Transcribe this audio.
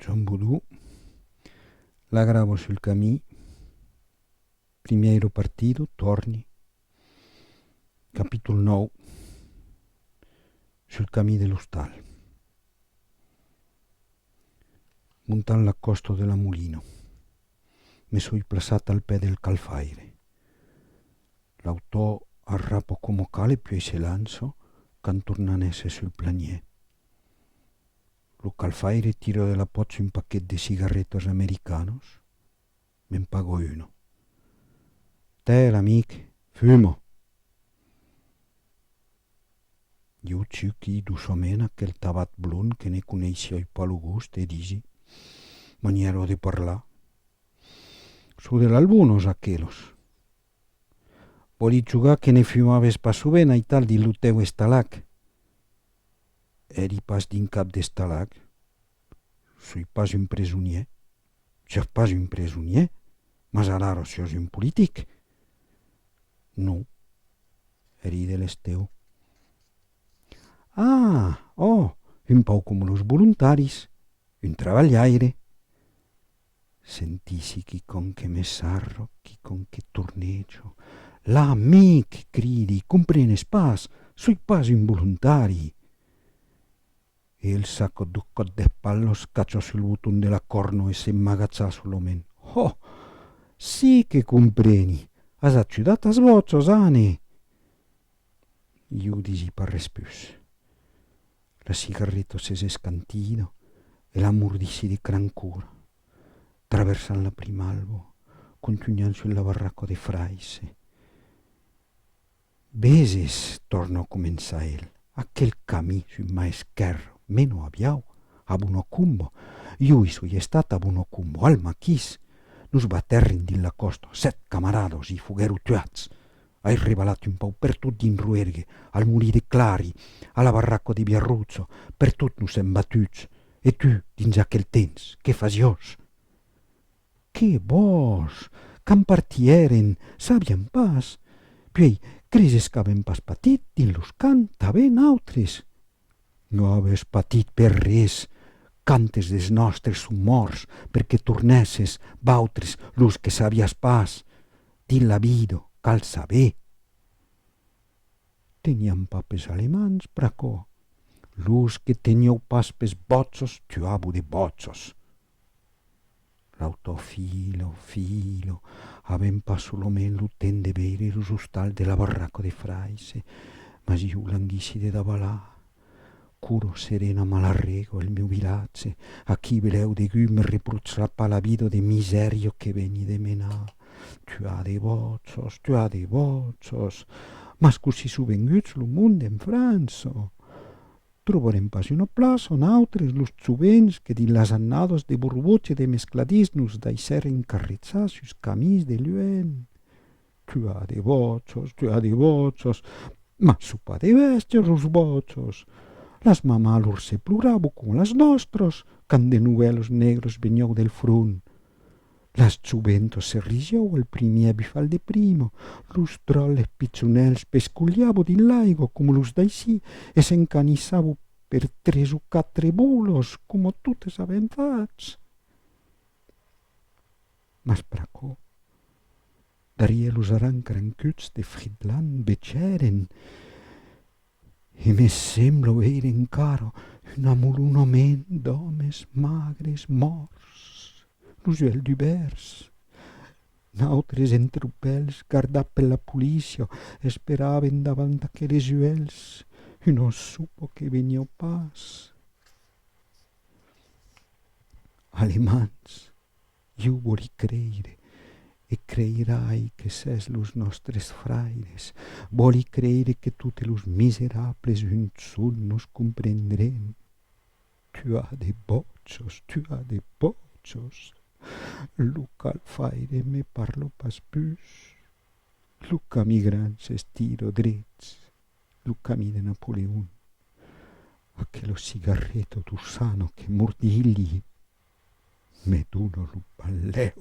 John Boudou, la gravo sul camí, primièiro partido, tòrni, capítol 9, sul camí de l'ostal, montant la còsta de la Molina, me soi plaçat al pè del Calfaire. L'autor arrapa coma cal e puèi se lança, cantornant-se sul planièr. Lo calfaire tira de la pòcha un paquet de cigarretas americanos, me'n pago una. Tèl, amic, fuma! Ieu chuqui doçament aquel tabat blond que ne coneissiái pas lo gust e disi, manièra de parlar, Çò de l'albonos, aquelos. Vòli jogar que ne fumaves pas sovent, aital, dins lo tèu estalac? Eri pas d'un cap d'estalag. Soi pas un presonier. Siós pas un presonier, mas alara siós un politic. Non. Eri de l'Esteu. Ah! Ò! Un pauc coma los volontaris. Un trabalhaire. Sentissi quicòm que me sarro, quicòm que tornejo. La, mic! cridi, comprenes pas? Soi pas un volontari! E el s'acòt du còt deth pal, los cachos sul boton de la còrno e se m'agacha sul omen. Ho! Si que compreni! As ajudat as vòts, Ozane! Iu disi pas res pus. La cigarreta se z'escantina e la mordissi de crancura, traversant la primalbo, contunhant sul la barraca de fraisse. Veses, torna a començar el, aquel camí sul ma esquèrra mena a Biau, a Bunacumba. Jo i soi estat a Bunacumba, al maquís. Nos batèrrin dins la còsta, sèt camaradas i foguèro tuats. Ai rebalat un pauc per tot dins Roergue, al molí de Clari, a la barraca de Biarruzzo, per tot nos èm batuts. E tu, dins aquel temps, qué fasiós? Qué bòs! Quand partieren, sabiam pas. Puèi, creses qu'avèm pas patit, dins los camps, tanben, autres? Non aves patit per res, quantes des nòstres son mòrts per que tornèsses, vautres, los que sabiatz pas, dins la vida, cal saber. Teniam pas pes alemands, pr'aquò. Los que tenieu pas pes bòtzos, tuabo de bòtzos. L'autor Filo, Filo, avèm pas solament lo temps de veire los ostals de la barraca de Fraise, mas iu languissi de davalar. Curo serena m'alarrego el meu vilatge, aquí velèu degut me reprotchar pas la vida de misèria que veni de menar. Tu as de vòchos, tu as de vòchos! Mas cossí sou venguts lo monde en França? Trobarem pas una plaça a nautres los jovens que dins las annadas de borbots e de mescladís nos daissèren carreçar sus camins de luènh. Tu as de vòchos, tu as de vòchos, mas çò pas de bèstias los vòchos. Las mamàs lor se plorabo coma las nòstras quand de novèlos negres veniáu del front. Las juventos se rigiau al primièr bifal de prima, los dròlles pichonèls pescolhabu dins l'aigo coma los d'aicí e s'encanissabu per tres o quatre bolos coma totes avèm fach. Mas pr'aquò, darrièr los arancrancuts de Fridland vechèren E me semblo veire encara una molona ment d'òmes magres mòrts, los uelhs dubèrts. Nautres entropèls, gardat per la polícia, esperaven davant aqueles uelhs una sopa que veniá pas. Alemands, Iu voli creire, e creirai que s'es los nòstres fraires, voli creire que totes los miserables unson nos comprendrén. Tu as de bòchos, tu as de bòchos! Lo calfaire me parlo pas pus, lo cami gran s'estiro drets, lo cami de Napoleon, aquelo cigarreto d'Ursano que mordilhi. me dona lo balèu.